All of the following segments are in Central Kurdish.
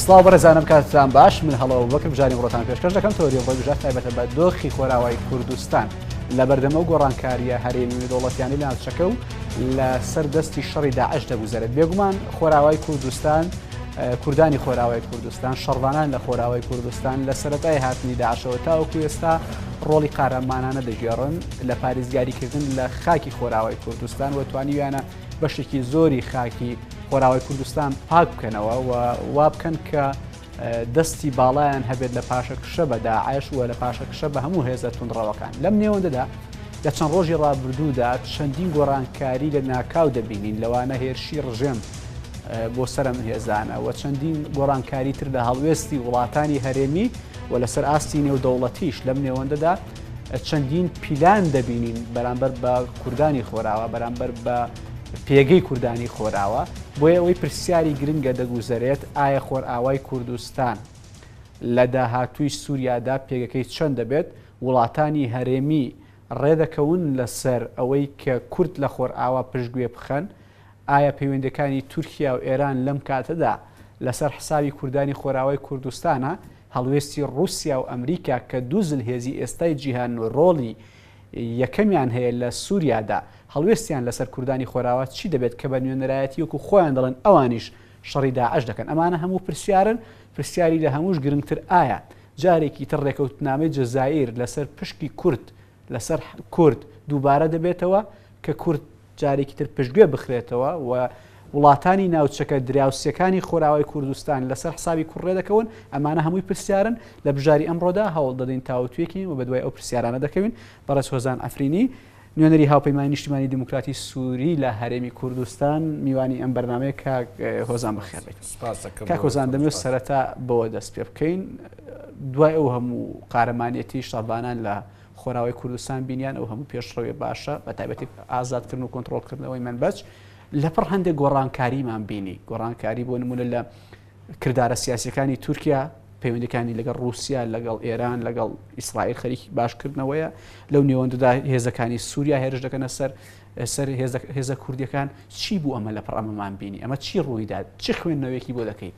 سڵاو بەڕێزانم کاتتان باش من هەڵەوە بەکە بژاری بڕۆتان پێشکەش دەکەم تۆری بۆ بژات تایبەتە بە دۆخی خۆراوای کوردستان لە بەردەمە و گۆڕانکاریە هەرێمی دەوڵەتیانی لە ناوچەکە و لە سەر دەستی شەڕی داعش دەگوزارێت بێگومان خۆراوای کوردستان کوردانی خۆراوای کوردستان شەڕوانان لە خۆراوای کوردستان لە سەتای هاتنی داعشەوە تاوەکو ئێستا ڕۆڵی قارەمانانە دەگێڕن لە پاریزگاریکردن لە خاکی خۆراوای کوردستان و توانیویانە بەشێکی زۆری خاکی خۆراوای کوردستان پاک بکەنەوە و وا بکەن کە دەستی باڵایان هەبێت لە پاشە کشە بە داعش و لە پاشە کشە بە هەموو هێزە تونڕەوەکان لەم نێوەندەدا لە چەند ڕۆژی ڕابردوودا چەندین گۆڕانکاری لە ناکاو دەبینین لەوانە هێرشی ڕژێم بۆ سرم هێزانە و چەندین گۆڕانکاری تر لە هەڵوێستی وڵاتانی هەرێمی و لەسەر ئاستی نێودەوڵەتیش لەم نێوەندەدا چەندین پیلان دەبینین بەرامبەر بە کوردانی خۆراوە بەرامبەر بە پێگەی کوردانی خۆراوە بۆیە ئەوەی پرسیاری گرنگە دەگوزەرێت ئایا خۆرئاوای کوردستان لە داهاتووی سووریادا پێگەکەی چەند دەبێت وڵاتانی هەرێمی ڕێدەکەون لەسەر ئەوەی کە کورد لە خۆرئاوا پشتگوێ بخەن ئایا پەیوەندیەکانی تورکیا و ئێران لەم کاتەدا لەسەر حسابی کوردانی خۆراوای کوردستانە؟ هەڵوێستی ڕوسیا و ئەمریکا کە دوو زلهێزی ئێستای جیهان و ڕۆڵی یەکەمیان هەیە لە سوریادا، هەڵوێستیان لەسەر کوردانی خۆراوا چی دەبێت کە بە نوێنەرایەتی وەکو خۆیان دەڵێن ئەوانیش شەڕی داعش دەکەن؟ ئەمانە هەموو پرسیارن، پرسیاری لە هەمووش گرنگتر ئایا جارێکی تر ڕێکەوتنامەی جەزائیر لەسەر پشکی کورد لەسەر کورد دووبارە دەبێتەوە کە کورد جارێکی تر پشتگوێ بخرێتەوە و وڵاتانی ناوچەکە دراوسەکانی خۆراوای کوردستان لەسەر حسابی کوڕێ دەکەون ئەمانە هەمووی پرسیارن لە بژاری ئەمڕۆدا هەوڵ دەدەین تاوتوێکی و بە دوای ئەو پرسیارانە دەکەوین بەڕێز هۆزان ئەفرینی نوێنەری هاوپەیمانی نیشتمانی دیموکراتی سووری لە هەرێمی کوردستان میوانی ئەم بەرنمەیە کاک هۆزان بەخێبێت کاک هۆزان دەمێ سەرەتا بەوە دەست پێ بکەین دوای ئەو هەموو قارەمانیەتی شەڤانان لە خۆراوی کوردستان بینیان ئەو هەموو پێشڕەوێ باشە بە تایبەتی ئازادکردن و کۆنتترۆلکردنەوەی منبەج لەپڕ هەندێک گۆڕانکاریمان بینی گۆڕانکاری بۆ نمونە لە کردارە سیاسەکانی تورکیا پەیوەندەکانی لەگەڵ رووسیا لەگەڵ ئێران لەگەڵ ئیسرائیل خەریکی باشکردنەوەیە لەو نێوەندەدا هێزەکانی سووریا هێرش دەکەنە سەر سەر هێزە کوردیەکان چی بوو ئەمە لە پڕ ئەمەمان بینی ئەمە چی ڕوویدا چی خوێندنەوەیەکی بۆ دەکەیت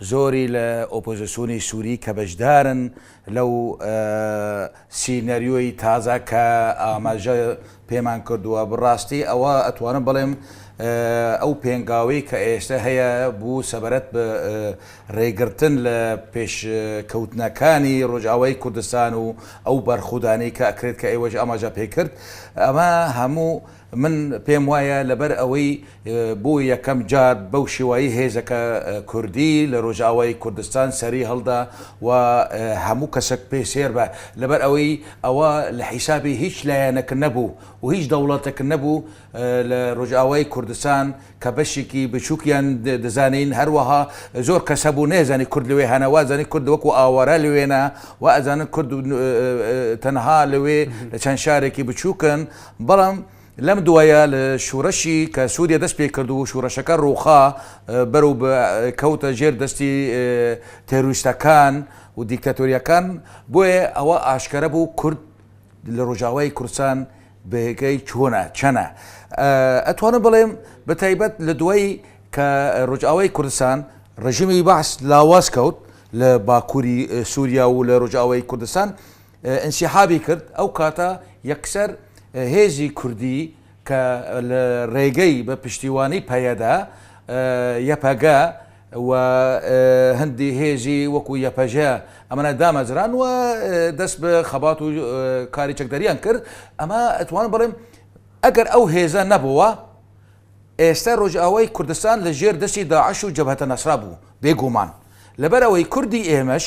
زۆری لە ئۆپۆزسیۆنی سوری کە بەشدارن لەو سینەریۆی تازە کە ئاماژە پێمان کردووە بڕاستی ئەوە ئەتوانم بڵێم ئەو پێنگاوەی کە ئێستە هەیە بوو سەبەرەت بە ڕێگرتن لە پێش کەوتنەکانی ڕۆژاوای کوردستان و ئەو بەرخودانی کە ئەکرێت کە ئێوەش ئاماژە پێکرد ئەمە هەموو من پێم وایە لەبەر ئەوەی بۆ یەکەم جار بەو شێوایەی هێزەکە کوردی لە رۆژئاوای کوردستان سەری هەڵدا و هەموو کەسەک پێ سێر بە لەبەر ئەوەی ئەوە لە حیسابی هیچ لایەنەک نەبوو و هیچ دەوڵەتەک نەبوو لە رۆژئاوای کوردستان کە بەشێکی بچووکیان دەزانین هەروەها زۆر کەس هەبوو نەیزانی کورد لەوێ هەنە وازانی کورد وەکو ئاوارە لەوێنە و ئەزانن کورد تەنها لەوێ لە چەند شارێکی بچووکن بەڵام لەم دوایە لە شورەشی کە سوریا دەست پێ کرد و شورەشەکە روخا بەرەو بە کەوتە ژێر دەستی تێروریستەکان و دیکتاتۆریەکان بۆیە ئەوە ئاشکەرە بوو کورد لە روژاوای کوردستان بەهێکای چۆنە چەنە ئەتوانم بڵێم بە تایبەت لە دوای کە روژاوای کوردستان رژیمی بەعس لاواز کەوت لە باکوری سوریا و لە روژاوای کوردستان ئینسیحابی کرد ئەو کاتە یەکسەر هێزی کوردی کە لە ڕێگەی بە پشتیوانی پەیەدە، یەپەگە، و هەندی هێزی وەکو یەپەژە ئەمانە دامەزران و دەست بە خەبات و کاری چەکداریان کرد ئەمە ئەتوانم بڵێم ئەگەر ئەو هێزە نەبووە ئێستا ڕۆژئاوای کوردستان لە ژێر دەستی داعش و جەبهەتە نەسرا بوو بێگوومان لەبەر ئەوەی کوردی ئێمەش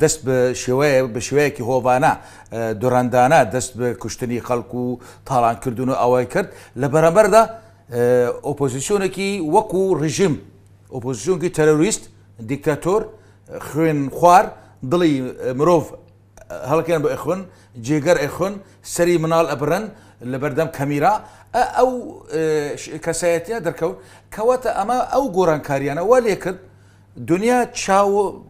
دەست بە شێوەیە بە شێوەیەکی هۆڤانە دڕەندانە دەست بە کوشتنی خەڵک و تاڵانکردن و ئەوەی کرد لە بەرەبەردا ئۆپۆزیسیۆنێکی وەکو ڕژیم ئۆپۆزیسیۆنکی تەرۆریست دیکتاتۆر خوێن خوار دڵی مرۆڤ هەڵکەن بە ئەخۆن جێگەر ئەخۆن سەری مناڵ ئەبرن لە بەردەم کەمیرا ئەو کەسایەتە دەرکەوت کەواتە ئەمە ئەو گۆڕانکاریانە وا لێکرد دنیا چاو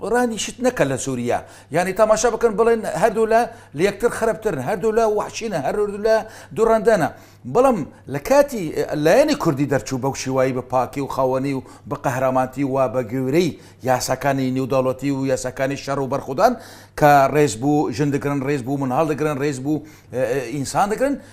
رانی شت نەکەن لە سوریا یانی تاماشا بکەن بڵێن هەردوولا لە یەکتر خراپترن هەردوولا وحشینە هەردوولا دوڕندەنە بەڵام لە کاتی لایەنی کوردی دەرچوو بەو شیوایی بە پاکی و خاوەنی و بە قەهرامانتی و بە گوێرەی یاساکانی نێودەوڵەتی و یاساکانی شەڕ و بەرخودان کە ڕێز بوو ژن دەگرن ڕێز بوو منهاڵ دەگرن ڕێز بوو ئینسان دەگرن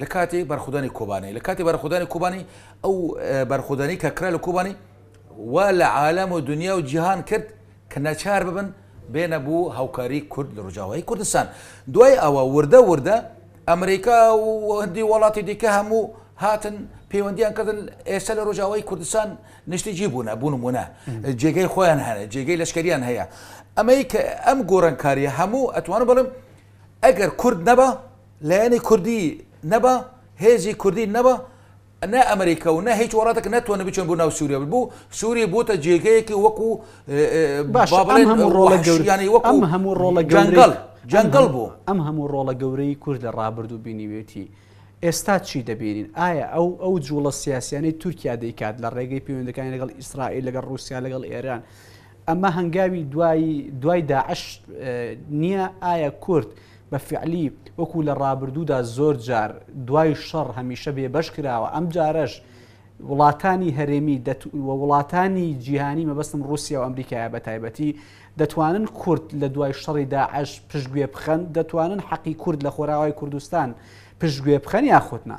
لە کاتی بەرخودانی کۆبانێ لە کاتی بەرخودانی کۆبانی ئەو بەرخودانی کە کرا لە کۆبانی وا لە عالەم و دنیا و جیهان کرد کە نەچار ببن بێنە بوو هاوکاری کورد لە ڕژاوایی کوردستان دوای ئەوە وردە وردە ئەمریکا و هەندی وڵاتی دیکە هەموو هاتن پەیوەندیان کردن ئێستا لە ڕۆژاوای کوردستان نیشتیجی بوونە بوون ومونە جێگەی خۆیان هەیە جێگەی لەشکریان هەیە ئەمەی کە ئەم گۆڕنکاریە هەموو ئەتوانم بڵم ئەگەر کورد نەبە لایەنی کوردی نەبا هێزی کوردی نەبا نە ئەمریکا و نە هیچ وڵاتێک نەتوانێت بچن بۆ ناو سووریا بوو سووری بووتە جێگەیەکی وەکو باش با بڵێن هەموو ڕۆڵە گەور یانی وەکو ئەم هەموو ڕۆڵە جەنگەڵ جەنگەڵ بوو ئەم هەموو ڕۆڵە گەورەی کورد لە ڕابردوو بینیوێتی ئێستا چی دەبینین ئایا ئەو ئەو جوڵە سیاسیانەی تورکیا دەیکات لە ڕێگەی پەیوەندەکانی لەگەڵ ئیسرائیل لەگەڵ رووسیا لەگەڵ ئێران ئەمە هەنگاوی دوایی دوای داعش نییە ئایا کورد بە فیعلی وەکو لە ڕابردوودا زۆر جار دوای شەڕ هەمیشە بێ بەش کراوە ئەم جارەش وڵاتانی هەرێمی و وڵاتانی جیهانی مەبەستم رووسیا و ئەمریکایە بە تایبەتی دەتوانن کورد لە دوای شەڕی داعش پشتگوێ بخەن دەتوانن حەقی کورد لە خۆراوای کوردستان پشتگوێ بخەن یاخودنا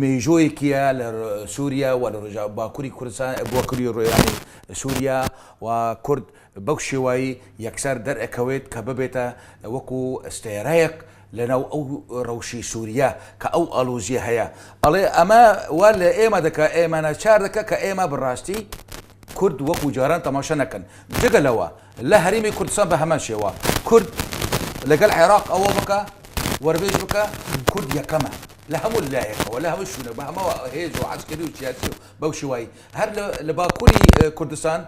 مێژوویەکیە لە سوریا و لە رۆژئاوای باکوری کوردستان باکوری رۆیانی سوریا و کورد بەو شێوەی یەکسەر دەرئەکەوێت کە ببێتە وەکو ستێرەیەک لە ناو ئەو رەوشی سوریە کە ئەو ئاڵوزیە هەیە ئەڵێ ئەمە وا لە ئێمە دەکا ئێمە ناچار دەکا کە ئێمە بە راستی کورد وەکو جاران تەماشا نەکەن جگە لەوە لە هەرێمی کوردستان بە هەمان شێوە کورد لەگەل عێراق ئەوە بکە وەربێژ بکە کورد یەکەمە لە هەموو لایەکەوە لە هەموو شوونە بە هەمەوە هێز و عسکری و سیاسی و بەو شوایی هەر لە باکووری کوردستان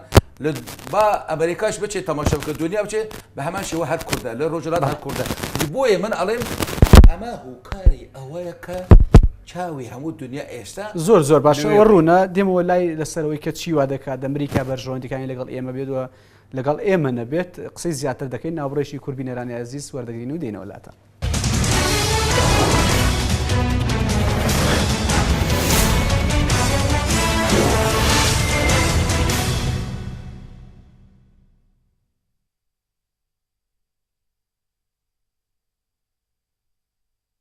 لە با ئەمریکاش بچێت تەماشا بکە دنیا بچێ بە هەمان شێوە هەر کوردە لە ڕۆژهەڵات هەر کوردە بۆیە من ئەڵێم ئەمە هۆکاری ئەوەیە کە چاوی هەموو دنیا ئێستا زۆر زۆر باشە ئەوە ڕوونە دێمەوە لای لەسەرەوەی کە چی وا دەکات دەمریکا بەرژەوەندەکانی لەگەڵ ئێمە بێت و لەگەڵ ئێمە نەبێت قسەی زیاتر دەکەین ناوڕێکی کوربی نێرانی ئازیز وەردەگرین و دێنەوەلاتە.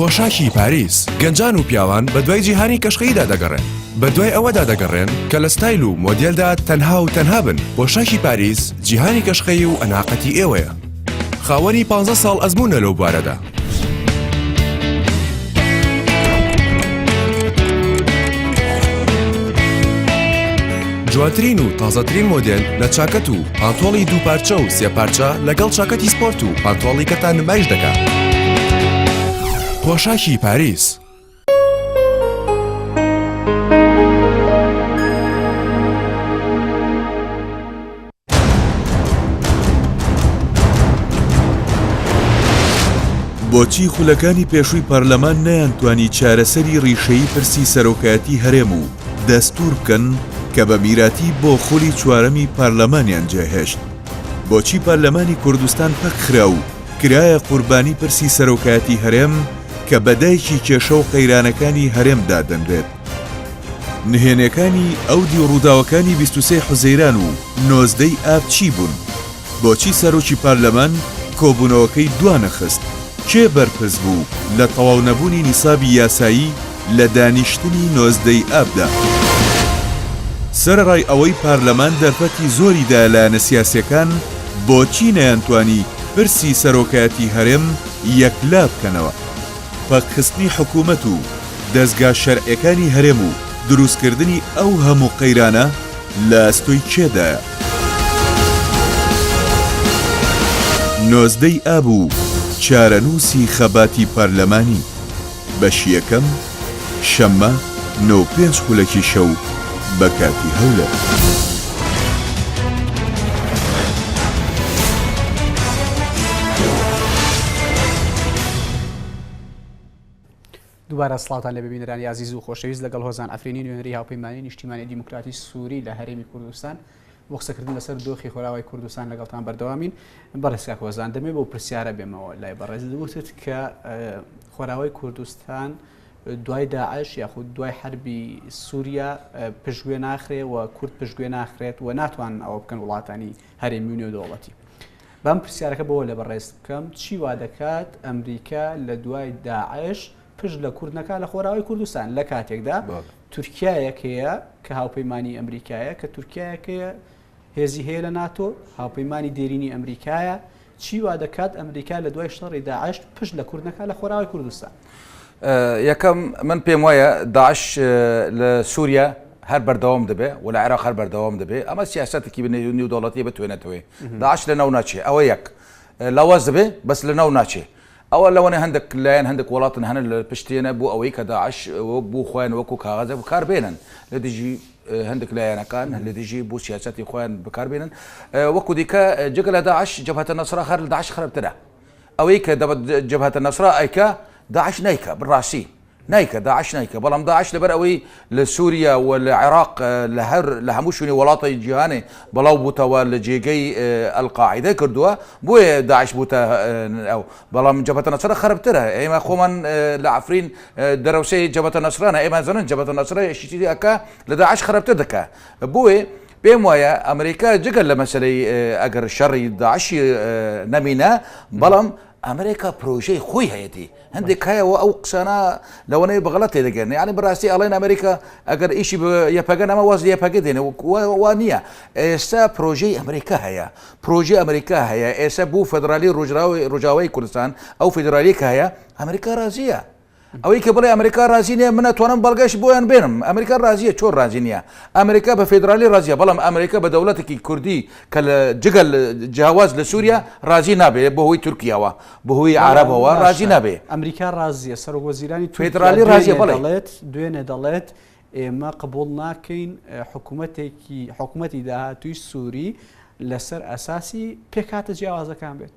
پۆشاکی پاریس گەنجان و پیاوان بە دوای جیهانی کەشخەیدا دەگەڕێن بە دوای ئەوەدا دەگەڕێن کە لە ستایل و مۆدیلدا تەنها و تەنها بن پۆشاکی پاریس جیهانی کەشخەی و ئەناقەتی ئێوەیە خاوەنی 15 ساڵ ئەزمونە لەو بارەدا جوانترین و تازەترین مۆدل لە چاکەت و پانتۆڵی دووپارچە و سێپارچە لەگەڵ چاکەتی سپۆرت و پانتۆڵی کەتان نمایش دەکات پۆشاکی پاریس بۆچی خولەکانی پێشووی پەرلەمان نەیانتوانی چارەسەری ڕیشەی پرسی سەرۆکایەتی هەرێم و دەستور بکەن کە بە میراتی بۆ خولی چوارەمی پەرلەمانیان جێهێشت بۆچی پەرلەمانی کوردستان پەکخرا و کرایە قوربانی پرسی سەرۆکایەتی هەرێم کە بە دایکی کێشە و قەیرانەکانی هەرێم دادەنرێت. نهێنێکانی ئەو دی ڕووداوەکانی بیست و سێ حوزەیران و نۆزدەی ئاب چی بوون؟ بۆچی سەرۆکی پارلەمان کۆبوونەوەکەی دوانەخست؟ کێ بەرپرس بوو لە تەواو نەبوونی نیسابی یاسایی؟ لە دانیشتنی نۆزدەی ئابدا. سەرەڕای ئەوەی پارلەمان دەرفەتی زۆری دا لایەنە سیاسیەکان بۆچی نەیانتوانی پرسی سەرۆکایەتی هەرێم یەکلا بکەنەوە؟ پەکخستنی حکومەت و دەزگا شەرعیەکانی هەرێم و دروستکردنی ئەو هەموو قەیرانە لە ئەستۆی کێدایە؟ نۆزدەی ئاب و چارەنووسی خەباتی پارلەمانی. بەشی یەکەم شەممە نۆ و پێنج خولەکی شەو بە کاتی هەولێر. دووبارە سڵاوتان لە ببینەرانی عزیز و خۆشەویست لەگەڵ هۆزان ئەفرینی نوێنەری هاوپەیمانی نیشتیمانی دیموکراتی سووری لە هەرێمی کوردستان بۆ قسەکردن لەسەر دۆخی خۆراوای کوردستان لەگەڵتان بەردەوامین بەڕێز کاک هۆزان دەمێ بۆ پرسیارە بێمەوە لای بەڕێز وتت کە خۆراوای کوردستان دوای داعش یاخود دوای حربی سووریا پشتگوێ ناخرێ و کورد پشتگوێ ناخرێت و ناتوان ئەوە بکەن وڵاتانی هەرێمی و نێودەوڵەتی بەم پرسیارەکە بۆ لە بەڕێز بکەم چی وا دەکات ئەمریکا لە دوای داعش پشت لە کورد نەکات لە خۆراوای کوردستان لە کاتێکدا تورکایەک هەیە کە هاوپەیمانانی ئەمریکایە کە تورکایەکەیە هێزی هەیە لە ناتۆ هاوپەیمانانی دێرینی ئەمریکایە چی وا دەکات ئەمریکا لە دوای شەڕی داعشت پشت لە کورد نەکات لە خۆراوای کوردستان یەکەم من پێم وایە داعش لە سووریا هەر بەردەوام دەبێ و لە عێراق هەر بەردەوام دەبێ ئەمە سیاستێکی بنێونی و دەوڵەتی بتوێنێتەوەی داعش لە ناو ناچێ ئەوە یەک لاواز دەبێ بەس لە ناو ناچێ ئەوە لەوەنە هەندەک لایەن هەندەک وەڵاتن هەنە لە پشتێنە بۆ ئەوەی کە داعش وەک بۆ خۆیان وەکو کاغەزە بکار بێنن لە دژی هەندەک لایەنەکان لە دژی بۆ سیاسەتی خۆیان بکار بێنن وەکو دیکە جگە لە داعش جەبهەتە نەسرا خەر لە داعش خراپترە ئەوەی کە دەبەت جەبهەتە نەسرا ئەیکا داعش نایکا بڕاستی نایکە داعش نایکە بەڵام داعش لەبەر ئەوەی لە سوریا و لە عێراق لە هەر لە هەموو شوێنی وەڵاتە جیهانێ بەڵاو بووتەوە لە جێگەی القاعدە کردووە بۆیە داعش بووتە ئەو بەڵام جەبەتە نەسرە خەربترە ئێمە خۆمان لە عفرین دەرەوسێ جەبەتە نەسرانە ئێمە زنن جەبەتە نەسرە شتیری ئەکا لە داعش خەربتر دەکا بۆیە پێم وایە ئەمریکا جگە لە مەسلەی ئەگەر شەڕی داعشی نەمینە بەڵام ئەمریکا پرۆژەی خۆی هەیەتی هەندێک کایە و ئەو قسانە لەوەنەیە بەغڵەت تێدەگەن یعنی بەڕاستی ئەڵێن ئەمریکا ئەگەر ئیشی یەپەگەن ئەمە واز یەپەگە دێنێ وا نییە ئێستا پرۆژەی ئەمریکا هەیە پرۆژی ئەمریکا هەیە ئێستا بوو فەدرالی ڕژراوی ڕژاوی کوردستان ئەو فیدرالیکە هەیە ئەمریکا رازیە ئەوەی کە بڵێ ئەمریکا رازی نیە من ئەتوانم بەڵگەش بۆیان بێنم ئەمریکا رازیە چۆن رازی نیە ئەمریکا بە فیدرالی رازیە بەڵام ئەمریکا بە دەوڵەتێکی کوردی کە لە جگەل جیاواز لە سوریا رازی نابێ بە هۆی تورکیاوە بە هۆی عەرەبەوە رازی نابێ ئەمریکا رازیە سەرۆک وەزیرانی تورکیا فیدرالی رازیە دوێنێ بەڵێ دەڵێت دوێنێ دەڵێت ئێمە قبوڵ ناکەین اه، حکومەتێکی حکومەتی داهاتووی سوری لەسەر ئەساسی پێکهاتە جیاوازەکان بێت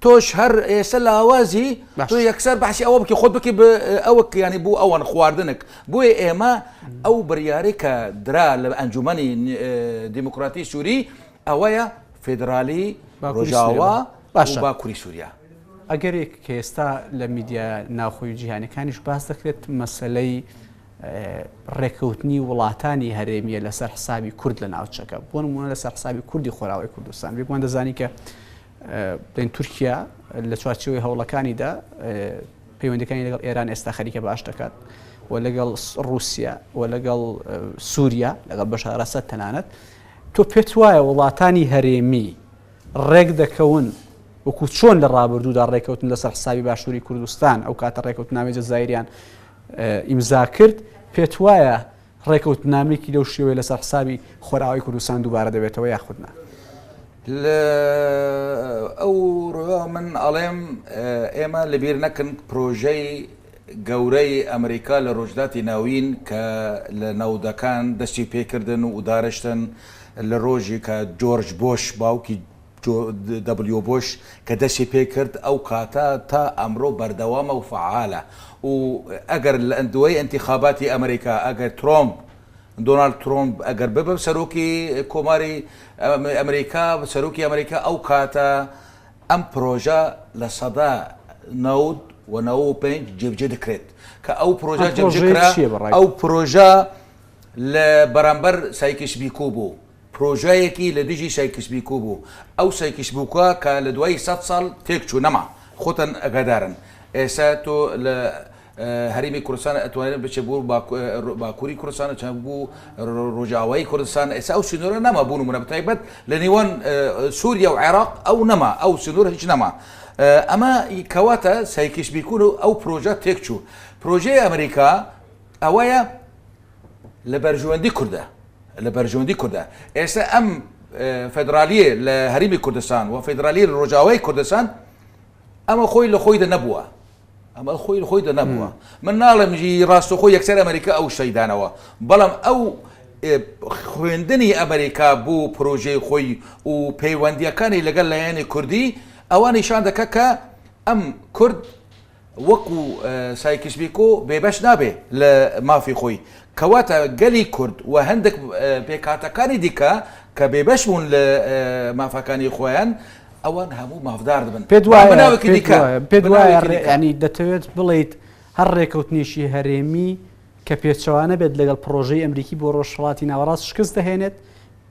تۆش هەر ئێسە لاوازی تۆ یەکسەر بەحسی ئەوە بکە خۆت بکی ئەوە کیانی بوو ئەوان خواردنک بۆیە ئێمە ئەو بڕیارێک کە درا لە ئەنجومی دیموکراتی سووری ئەوەیە فیدرالی ڕۆژاوا باشە با کوری سووریا ئەگەرێک کە ئێستا لە میدیا ناوخۆی جیهانەکانیش باس دەکرێت مەسلەی ڕێکەوتنی وڵاتانی هەرێمیە لەسەر حسابی کورد لە ناوچەکە بۆ نمونە لەسەر حسابی کوردی خۆراوی کوردستان بێکمان دەزانی کە بڵێن تورکیا لە چوارچێوەی هەوڵەکانیدا پەیوەندەکانی لەگەڵ ئێران ئێستا خەریکە باش دەکات و لەگەڵ رووسیا و لەگەڵ سووریا لەگەڵ بەشارەسە تەنانەت تۆ پێت وایە وڵاتانی هەرێمی ڕێک دەکەون وەکو چۆن لە ڕابردوودا ڕێککەوتن لەسەر حسابی باشووری کوردستان ئەو کاتە ڕێککەوتناوی جەزایریان ئیمزا کرد پێت وایە ڕێکەوتنامەیەکی لەو شێوەیە لەسەر حسابی خۆرئاوای کوردستان دووبارە دەبێتەوە یاخود نا؟ لە ئەو ڕووەوە من ئەڵێم ئێمە لەبیر نەکەن پرۆژەی گەورەی ئەمریکا لە ڕۆژهەلاتی ناوین کە لە نەوەدەکان دەستی پێکردن و دارشتن لە ڕۆژی کە جۆرج بۆش باوکی جۆ دەبلیۆ بۆش کە دەستی پێ کرد ئەو کاتە تا ئەمرۆ بەردەوامە و فەعالە و ئەگەر لە دوای ئینتیخاباتی ئەمریکا ئەگەر ترۆمپ دۆناڵد ترۆمپ ئەگەر ببە سەرۆکی کۆماری ئەمریکا سەرۆکی ئەمریکا ئەو کاتە ئەم پرۆژە لە سەدا نەود و نەوە و پێنج جێبجێ دەکرێت کە ئەو پرۆژە جێبجێ کرا ئەو پرۆژە لە بەرامبەر سایکیس بیکۆ بوو پرۆژەیەکی لە دژی سایکسبیکو بوو، ئەو سایکسبوکە کە لە دوای سەد ساڵ تێک چوو نەما، خۆتان ئەگادارن ئێستا تۆ لە هەرێمی کوردستان ئەتوانێت بچێت بۆ باکوری کوردستان چە بۆ ڕۆژئاوای کوردستان ئێستا ئەو سنورە نەما بۆ نمونە بەتایبەت لە نێوان سوریا و عێراق ئەو نەما ئەو سنور هیچ نەما ئەمە کەواتە سایکسبیکو و ئەو پرۆژە تێک چوو پرۆژەی ئەمریکا ئەوەیە لە بەرژوەندی کوردە لە بەرژوەندی کوردە ئێستا ئەم فدرالیە لە هەرمی کوردستان و فدرالی ڕۆژاوای کوردستان ئەمە خۆی لە خۆی دە نەبووە ئەمە خۆی خۆی دە نەبووە من ناڵێم ژی ڕاستەخۆ یەکسەر ئەمریکا ئەو شەیدانەوە بەڵام ئەو خوێندنی ئەمریکا بوو پرۆژەی خۆی و پەیوەندیەکانی لەگەڵ لایەنی کوردی ئەوە نیشان دەکە کە ئەم کورد وەکو سایکس بیکۆ بێبەش نابێت لە مافی خۆی، کەواتە گەلی کورد و هەندێک پێکهاتەکانی دیکە کە بێبەش بوون لە مافەکانی خۆیان، ئەوان هەموو مافدار دەبن. پێت وایە دەتەوێت بڵێیت هەر رێکەوتنێکی هەرێمی کە پێچەوانە بێت لەگەڵ پڕۆژەی ئەمریکی بۆ رۆژهەڵاتی ناوەڕاست شکست دەهێنێت؟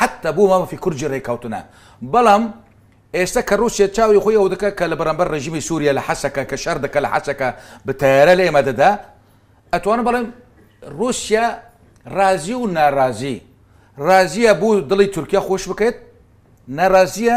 حەتە بۆ مافی کورد جی رێککەوتنە بەڵام ئێستا کە روسیە چاوی خۆی ئەودەکات کە لە بەرامبەر رژیمی سوریا لە حەسەکە کە شەر دەکات لە حەسەکە بە تەیارە لە ئێمە دەدا ئەتوانم بەڵێم روسیا رازی و نارازی رازیە بوو دڵی تورکیا خۆش بکەێت نارازیە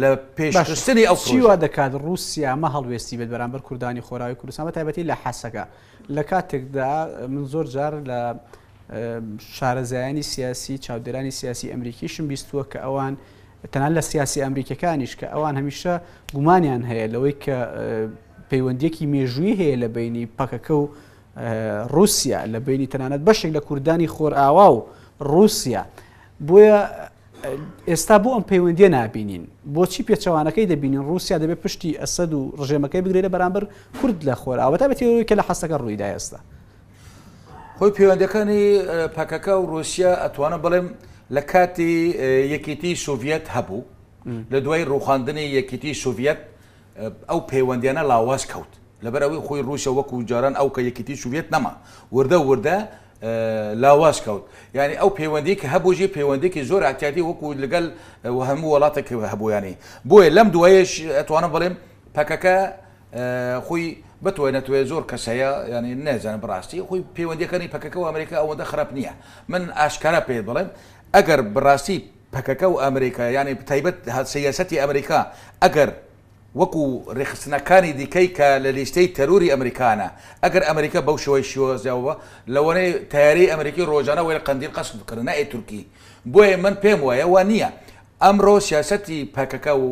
لە پێشخستنی ئەو چیوا دەکات رووسیا مە هەڵوێستی بێت بەرامبەر کوردانی خۆراوی کوردستان بە تایبەتی لە حەسەکە لە کاتێکدا من زۆر جار لە شارەزایانی سیاسی چاودێرانی سیاسی ئەمریکیشم بیستووە کە ئەوان تەنان لە سیاسی ئەمریکەکانیش کە ئەوان هەمیشە گومانیان هەیە لەوەی کە پەیوەندیەکی مێژووی هەیە لە بینی پەکەکە و رووسیا لە بینی تەنانەت بەشێک لە کوردانی خۆرئاوا و رووسیا بۆیە ئێستا بۆ ئەم پەیوەندیە نابینین؟ بۆچی پێچەوانەکەی دەبینین ڕوسیا دەبێت پشتی ئەسەد و ڕژێمەکەی بگرێت لە بەرامبەر کورد لە خۆرئاوا بەتایبەتی ئەوەی کە لە حەسەکە ڕوویدا ئێستا؟ هۆی پەیوەندیەکانی پەکەکە و ڕوسیا ئەتوانم بڵێم لە کاتی یەکێتی سۆڤەت هەبوو لە دوای ڕوخاندنی یەکێتی سۆڤەت ئەو پەیوەندیانە لاواز کەوت لەبەر ئەوەی خۆی ڕوسە وەکو جاران ئەو کە یەکێتی سوڤەت نەما وردە وردە لاواز کەوت یانی ئەو پەیوەندی کە هەبوو ژی پەیوەندێکی زۆر ئەتیادی وەکو لەگەل وهەموو وڵاتە کە هەبوویانی بۆیە لەم دوایش ئەتوانم بڵێم پەکەکە خۆی بتوێ نەتوێ زۆر کەسەیە ینی نێزان بڕاستی خۆی پەیوەندەکانی پەکەکە و ئەمریکا ئەوەندە خراپ نییە من ئاشکارا پێت بڵێم ئەگەر بڕاستی پەکەکە و ئەمریکا یانی تایبەت سیاسەتی ئەمریکا ئەگەر وەکو رێکخستنەکانی دیکەی کە لە لیستەی تەروری ئەمریکانە، ئەگەر ئەمریکا بەو شێوەی شیوەزەوە لەوانەیە تەیارەی ئەمریکی رۆژانە وەێ قەندیل قەست بکەن نەئ تورکی بۆیە من پێم وایە وا نییە ئەمرۆ سیاسەتی پەکەکە و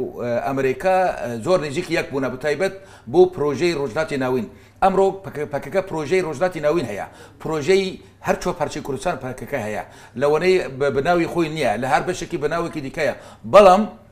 ئەمریکا زۆر نزیکی یەک بوونە بەتایبەت بۆ پرۆژەی رۆژلاتی ناوین ئەمرۆ پەکەکە پرۆژەی رۆژلاتی ناوین هەیە پرۆژەی هەر چوار پارچەی کوردستان پەکەکە هەیە لەوانەیە بە بناوی خۆی نییە لە هەر بەشێکی بە ناوێکی دیکەیە بەڵام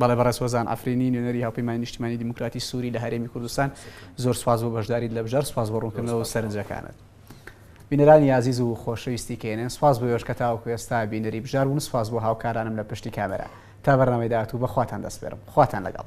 بەڵێ بەڕێز هۆزان عەفرینی نوێنەری هاوپەیمانی نیشتیمانی دیموکراتی سوری لە هەرێمی کوردستان زۆر سوپاس بۆ بەشداریت لە بژار سوپاس بۆ ڕوونکردنەوە سەرنجەکانت. بینەرانی ئازیز و خۆشەویستی کەێنێن سوپاس بۆ ئێوەش کە تاوەکو ئێستا بینەری بژار بوون سوپاس بۆ هاوکارانم لە پشتی کامێرا تا بەرنامەی داهاتوو بەخواتان دەسپێرم خواتان لەگەڵ